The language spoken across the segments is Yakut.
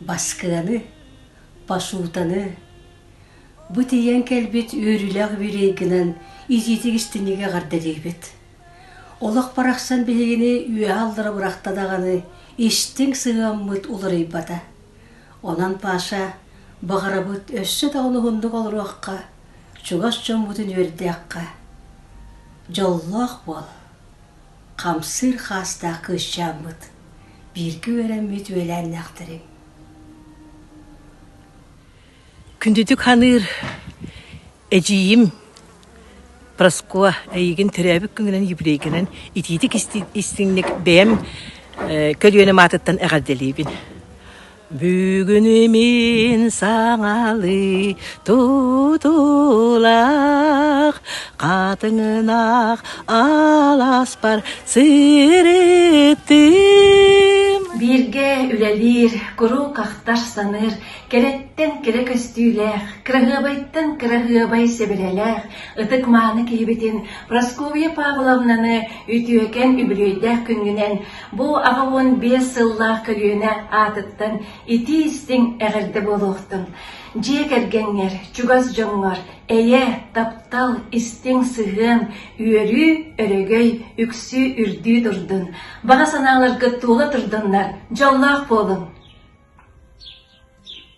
Баскыаны, пасутаны бу тиийэн кэлбит үөрүүлээх үбүлүөйгүнэн итиитик истиҥник эҕэрдэлиибит. Олох барахсан биһигини үөһэ аллара бырахта даҕаны истиҥ сыһыаммыт уларыйбата. Онон Паша, баҕарабыт өссө даҕаны уһуннук олоруохха, чугас дьоммутун үөрдүөххэ. Дьоллоох буол. хамсыыр хаастаах кыысчааммыт, бииргэ үөрэммит үөлээннээхтэрим. Күндүтүк ханыыр эдьиийим Проскуа эйигин төрөөбүт күнгүнэн юбилейгынан итиитик истиҥник бэйэм көлүөнэ маатыттан эҕэрдэлиибин. Бүгүнү мин саҥалыы тутулах хатыҥынах аласпар сырыттым. Бииргэ үлэлиир, куруук ахтар-саныыр, кэрэттэн кэрэ көстүүлээх, кыраһыабайтан кыраһыабай сэбирэлээх, ытык-мааны киһибитин Прасковья Павловнаны үтүөкэн үбүлүөйдээх күнгүнэн Бу аҕа уон биэс сыллаах көлүөнэ аатыттан итии-истиҥ эҕэрдэ буолуохтун! Дьиэ кэргэҥҥэр, чугас дьоҥҥор эйэ, таптал, истиҥ сыһыан, үөрүү, өрөгөй, үксүү үрдүү турдун! Баҕа санааларгыт туола турдуннар! Дьоллоох буолуҥ!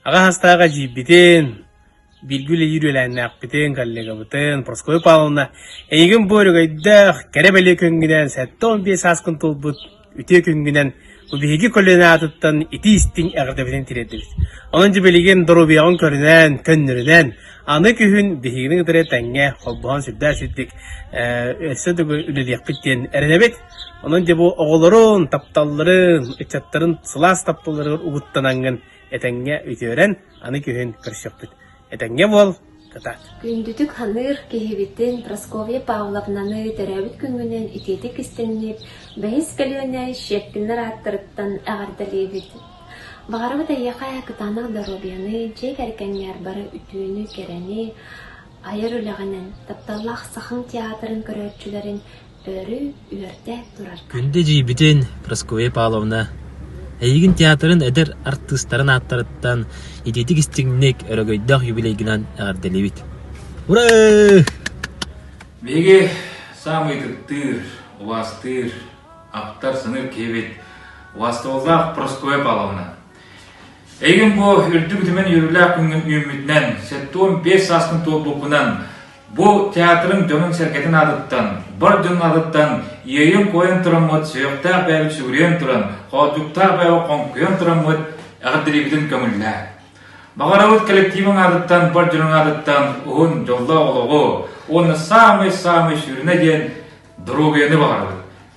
Аҕа саастаах эдьиийбитин бииргэ үлэлиир үөлээннээхпитин, коллегабытын Прасковья Павловна эйигин бу өрөгөйдөөх кэрэ-бэлиэ күнгүнэн сэттэ уон биэс сааскын туолбут үтүө күнгүнэн бу биһиги көлүөнэ аатыттан итии-истиҥ эҕэрдэбитин тириэрдэбит. Онон дьэ билигин доруобуйаҕын көрүнэн, көннөрүнэн аны күһүн биһигини кытары тэҥҥэ холбоһон сүрдээх сирдик өссө дэгу үлэлиэхпит диэн эрэнэбит. Онон дьэ бу оҕолорун, тапталларын, ыччаттарын сылаас тапталларыгар угуттанаҥҥын Этэҥҥэ үтүөрэн, аны күһүн көрсүөхпүт. Этэҥҥэ буол, кытаат. Күндүтүк саныыр киһибитин Прасковья Павловнаны төрөөбүт күҥҥүнэн итиэтик истиҥниир бэһис көлүөнэ Щепкиннэр ааттарыттан эҕэрдэлиибит. Баҕарабыт эйиэхэ кытаанах доруобуйаны, дьиэ кэргэҥҥэр бары үтүөнү, кэрэни, айар үлэҕинэн, тапталлаах Сахаҥ театрын көрөөччүлэрин Өрүү үөртээн турар. Күндэ эдьиийбитин Прасковья Павловна эйигин театрын эдэр артыыстарын ааттарыттан итиитик истиҥник, өрөгөйдөөх юбилейгынан эҕэрдэлиибит. Ура! Биһиги саамай ытыктыыр, убаастыыр, аптар-сыныр киһибит, убаастабыллаах Прасковья Павловна. Эйигин бу үрдүк үтүмэн үөрүүлээх күҥҥүн үүммүтүнэн, сэттэ уон биэс сааскын туолбуппунан Бу театрым дьонун-сэргэтин аатыттан, бар дьон аатыттан иэйэн-куойан тураммыт, сүһүөхтээх бэйэбит сүгүрүйэн туран, хооддьуктаах бэйэбит хоҥкуйан тураммыт эҕэрдэлиибитин көҥүллээ. Баҕарабыт коллективиҥ аатыттан, бар дьонуҥ аатыттан уһун дьоллоох олоҕу уонна саамай-саамай сүрүнэ диэн доруобуйаны баҕарабыт.